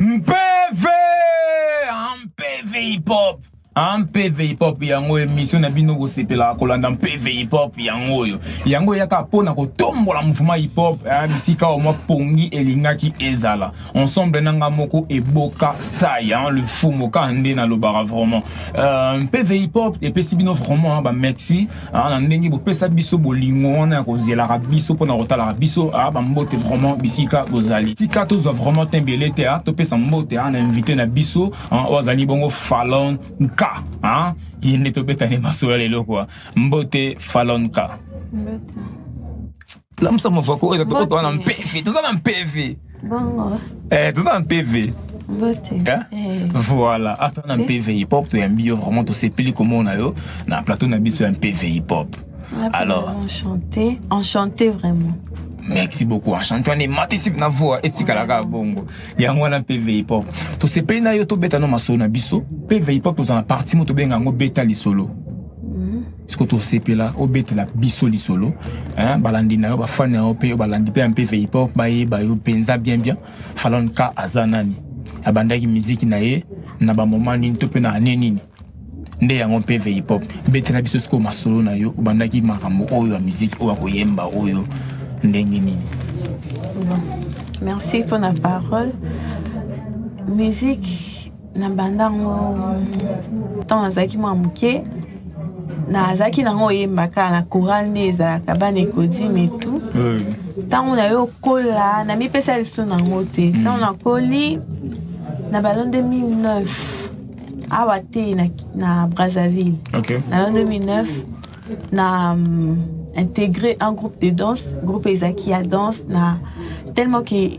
mpv ah, mpv hip hop ah, mpv hip hop yango emission na bino kosepelaka kolanda mpv hip hop yango oyo yango eyaka mpo na kotombola mouvement hip hop eh, bisika oyo mwa pongi elingaki ezala ensemble na nga moko eboka style hein, le fumoka nde nalobaka vraiment euh, mpv hip hop epesi bino vraiment bamexi Ah, na ndenge bopesa biso bolingo wana ya kozelaka biso mpo na kotalaka biso ah, bambote vraiment bisika bozali tika tozwa vraiment te mbele te ah, topesa mbote ah, na invité na biso ah, oyo azali bongo falon nka ah, ye nde tobetani masolo ya lelo kwa mbote falon nka mbote. lamusa mafako oyo toko toza na mpevi toza na mpevi bongo eh toza na mpevi eh? eh. voilà ata na mpv hip hop toyambi yo vraiment tosepeli komona yo na plateau na biso ya mpv hip hop alors enchanté enchanté vraiment merci beaucoup enchanté wana ematisi na voa etikalaka bongo yango wana mpv hip hop tosepeli na yo tobeta no masolo na biso mpv hip hop toza na parti mo tobenga yango beta lisolo siko tosepela obetela biso lisolo hein, balandi na yo bafani na yo mpe balandi mpe ya mpe veipop bayeba yo mpenza bien bien falon ka aza nani abandaki miziki na ye na bamoma nini to mpe na ane nini nde yango mpe veipop betela biso sikoyo masolo na yo obandaki makambo oyo ya miziki oyo akoyemba oyo ndenge nini merci mpo na parole musique na banda yango ntango nazalaki mwa moke nazalaki nango oyemba kaka na coral nde ezalaka bana ekodime etu ntango na yo okola namipesa liso nango te hmm. ntango nakoli na balo 2009 awa te na, na brazzaville okay. na balo 2009 na um, intégré un groupe de danse groupe ezalaki ya danse na tellement que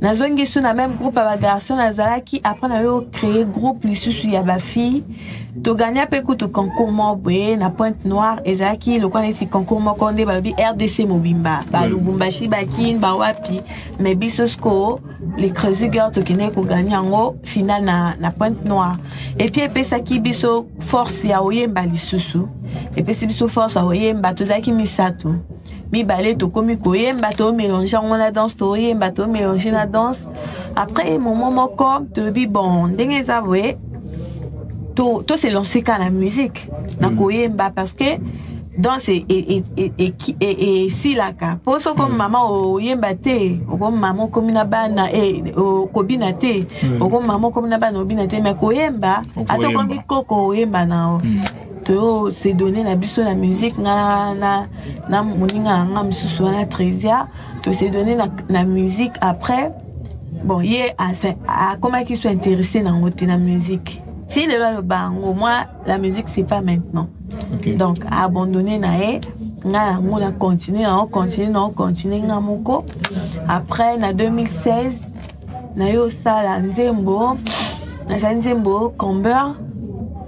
nazongi su na meme groupe ya bagarçon nazalaki après nayo créer groupe lisusu ya bafille togagna mpe kutu concours moko boye na pointe noire ezalaki lokola neti concours moko nde balobi rdc mobimba balubumbashi bakin bawapi mais biso sikoyo les creusigueur tokendeki kogagna yango final na, na pointe noire epuis epesaki biso force ya oyemba lisusu epesi biso force ya oyemba tozalaki misato mibale tokomi koyemba tomélange yango na danse toyemba tomélange na danse après moment moko tolobi bon ndenge eza boye to, to se lancer ka na musique na mm. koyemba parce que danse e, e, e, esilaka mpo soki okomi mm. mama oyemba te okomi mama okomi na bana okobina te mm. okomi mama okomi na bana obina te me koyemba ata okomi koko oyemba na o to se donner na biso na musique nga na, na moninga na nga mosusu wana tresia to se donner na, na musique après bon ye akomaki so intéressé nango te na musique ti lelo aloba yango moi la musique c'est pas maintenant okay. donc abandonné na ye nga yango na continue nango continue nango continue nga moko après na 2016 naye osala nzembo nazali nzembo comber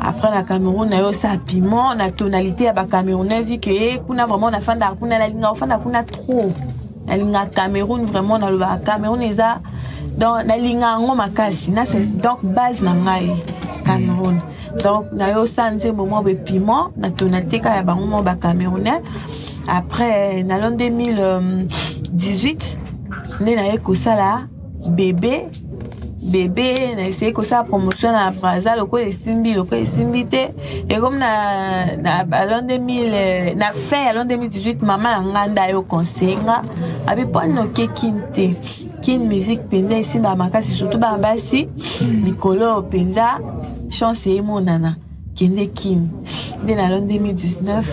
après na cameroun na yo sa piment na tonalité ya bacamerounais vu ke eh, kuna vraiment nafandaka kuna nalingaka ofanda kuna trop nalingaka cameroun vraiment nalobaka cameroun eza donc nalingaka yango makasi na donc base na ngai cameroun donc na yo sa nzembo mwa boye piment na tonalité kaka ya bango mwa bacamerounais après na lo 2018 nde naye kosala bebe bebe na esei kosala promotion na braza lokola esimbi lokola esimbi te ekomi na, na alon 2000 na fin ya alon 2018 mama na ngai nda yo conseille nga abi mpo noke kin te kin musique mpenza esimbaka makasi surtout bana basi hmm. mikolo oyo mpenza chance emonana kende kin nde na alon 2019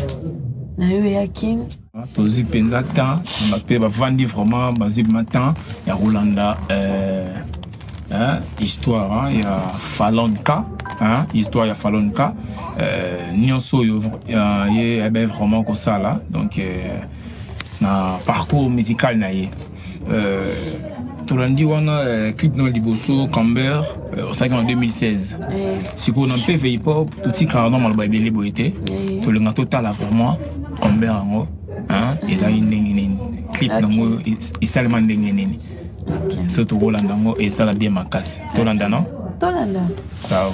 na yo ya kin tozwi mpenza temps mpe bavandi vraiment bazwi ma temps ya kolanda euh, hein, histoire hein, ya falonka hein, histoire ya falonka euh, nyonso oyo euh, ye abe vraiment kosala donc euh, na parcours musical na ye tolandi wana euh, clip na liboso camber euh, osalaki na 2016 sikoyo na mpeve hip-hop totikaka na maloba ebele boye te tolinga totala vraiment camber yango ezali ndenge nini clip nango esalema ndenge nini so tokolanda yango esala bien makasi tolanda no tolanda sawa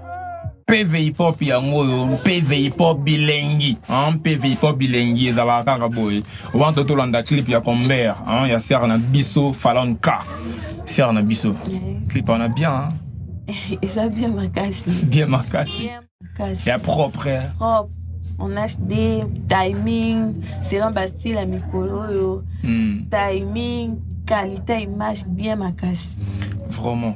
peve hip-hop yango oyo mpeve hip-hop bilengi mpeve hip-hop bilengi ezalaka kaka boye wana to tolanda clip ya comber ya sere na biso falon k sere na biso clip wana bien eza bien makasi bien makasi ya propre propre on a des timing selon bastyle ya mikolo oyo hmm. timing qualité image bien makasi vraiment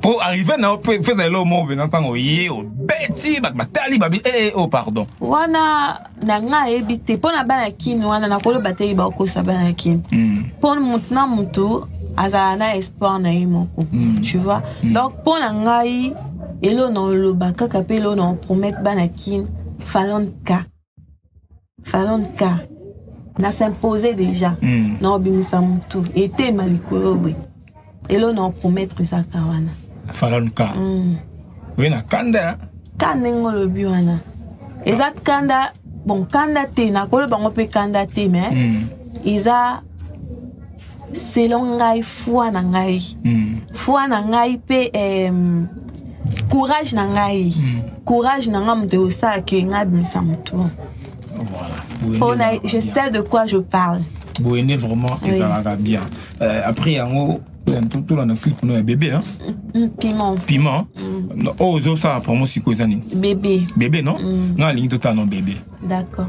po arrive na yo feza eloko moko mpenza ntango oye obeti bato batali babi ee eh, o oh, pardon wana na ngai ayebi te mpo na bana kini wana nakoloba te bakokosa bana kini mpo hmm. motu na motu azala na espoir na ye moko hmm. tu vois hmm. donc mpo na ngai eloo na oloba kaka mpe eloo na opromete bana kini falonka salon ka na s'impose déjà mm. na obimisa motu etema likolo boye elo na opromettre ezaka wana falon ka mm. oye na kanda ka ndenge olobi wana eza kanda bon kanda te nakoloba yango mpe kanda te mais mm. eza selon ngai foi na ngai mm. foi na ngai mpe um, courage na ngai mm. courage na ngai moto ekosala ke ngai abimisa motu mpona je sais de quoi je parle boyende vraiment ezalaka oui. bien euh, après yango tolanda clip no ya bebe hein? mm, mm, piment piment mm. oyo oh, ozosala promo sikoyo eza nini bebe bebe non mm. ngai alingi totala no bebe d'accord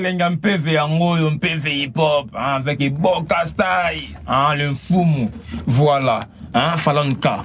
nalenga mpeve yango oyo mpeve hiphop avec eboka style le mfumu voilà falonka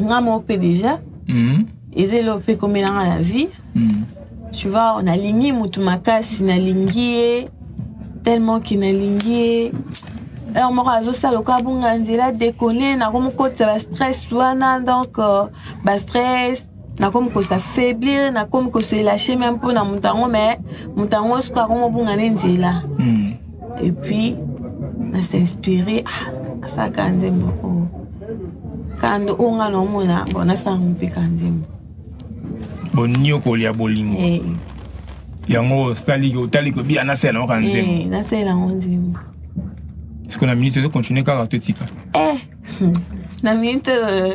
nga moko mpe déjà mm. eza eloko mpe ekomela nga na vie mm. tu vois nalingi motu makasi nalingi ye tellement ke nalingi ye heure moko azosala lokola abunga nzela dekone nakomokotisa bastress wana donc euh, bastress nakomi kosafaiblir nakomi kosoelache meme mpo na moto yango me moto yango soki akomi obunga nde nzela hmm. epuis nasinspire ah, asaka nzembo oyo kando oyo nga naomona bo nasala mope ka nzembo boniokoli ya bolingo eh. yango osali otali kobi anasala yango ka eh, nzembo nasala yango nzembo sikoyo na minute ezo continue kaka totika eh, na minute euh,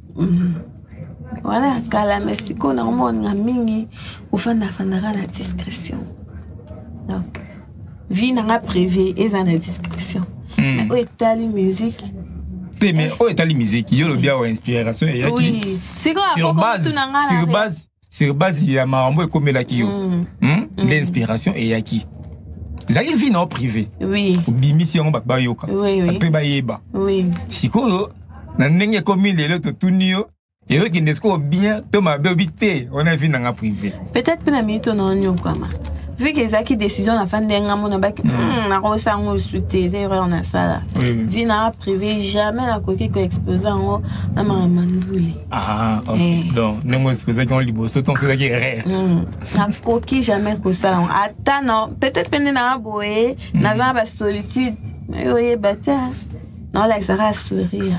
Mhm. wana ya kala me sikoyo nakomonga mingi ofandafandaka na discrétion donc vie nanga privé eza na discrétion hmm. oyo etali musique te mais oyo etali musique yo lobi awa inspiration eyaki sur base sur base ya makambo ekomelaki yo mm. hmm? mm. nde inspiration eyaki ezalaki vie na yo privé obimisi yango bato bayoka mpe bayeba sikoyo na ndenge ekomi lelo totuni yo ezokende sikoyo bien to mabe obi te wana vie na nga privé peut-être mpe na minute ona onyokwama vu que ezalaki décision na fandi yanga mona baki mm. hmm, nakosa yango esu te eza erreur nasala vie na privé jamais nakoki koexpose yango na makambo ya ndule Ah, ok. Eh. Donc, ndenge osepesaki yango liboso ntango osepesaki erreur Mm. nakoki jamais kosala yango ata na peut-être mpe nde naa boye naza na basolitude mais oyeba te naolakisaka ya sourire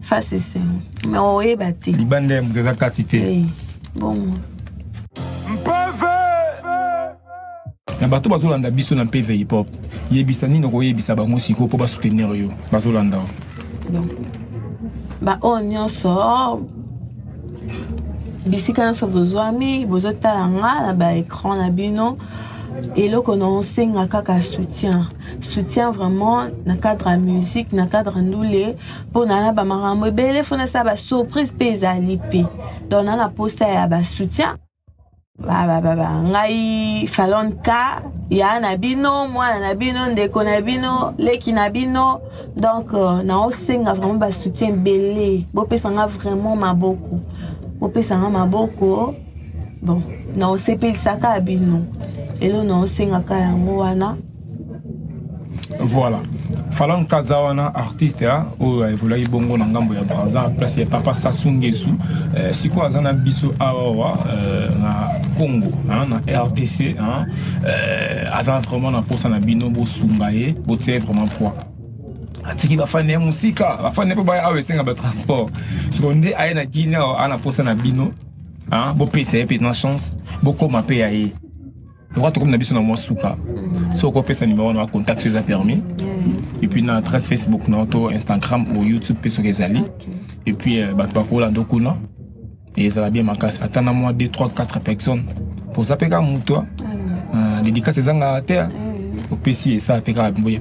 face esengo mais oyeba te libanda ya moto eza kati te Eh, bongo na bato bazolanda biso na mpeve hip hop yebisa nini okoyebisa bango sikoyo mpo basoutenir yo bazolanda baoyo nyonso bisika nyonso bozwami bozotala nga na baécran na bino eloko na osenga kaka soutien soutien vraiment na cadre ya musique na cadre ndule mpo na na bamakambo ebele fo nasala basurprise mpe ezali mpe donc na na posa ya basoutien babababa ngai falonta ya na bino mwana na bino ndeko na bino leki na bino donc euh, naosenga vraiment basoutien ebele bopesa nga vraiment maboko bopesa nga maboko bon naosepelisaka bino elo naosengaka yango wana voilà falan kaza wana artiste ya ah, oyo aevolaki bongo na ngambo ya braza place ya papa sasu ngesu eh, sikoyo aza na biso awawa eh, na congo hein, na rdc hein, eh, aza vraiment na mposa na bino bosunga ye botia ye vraiment poids atiki bafani ya mosika bafani mpe baya awa esenga batransport sikoyo nde aye na guine awa ana mposa na bino hein, bopesa ye mpenza chance bokoma mpe ya ye lokola tokomi na biso na mwa suka so okopesa nimero wana bacontact so eza permis et puis na adresse facebook na to instagram ou youtube mpe soki ezali et puis euh, bato bakolanda kuna ezala bien makasi ata na mwa 2 3 4 personnes poza mpe kaka moto dedikasi ezangaka te opesi esala mpe kaka boye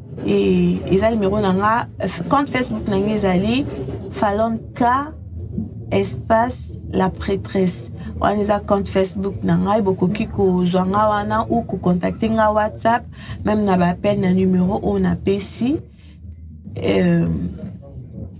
Et eza numéro na nga compte Facebook na nga ezali Falon K espace la prêtresse wana eza compte facebook na ngai bokoki kozwa ngai wana ou kocontacte ngai whatsapp meme na baappel na numero oyo napesi euh,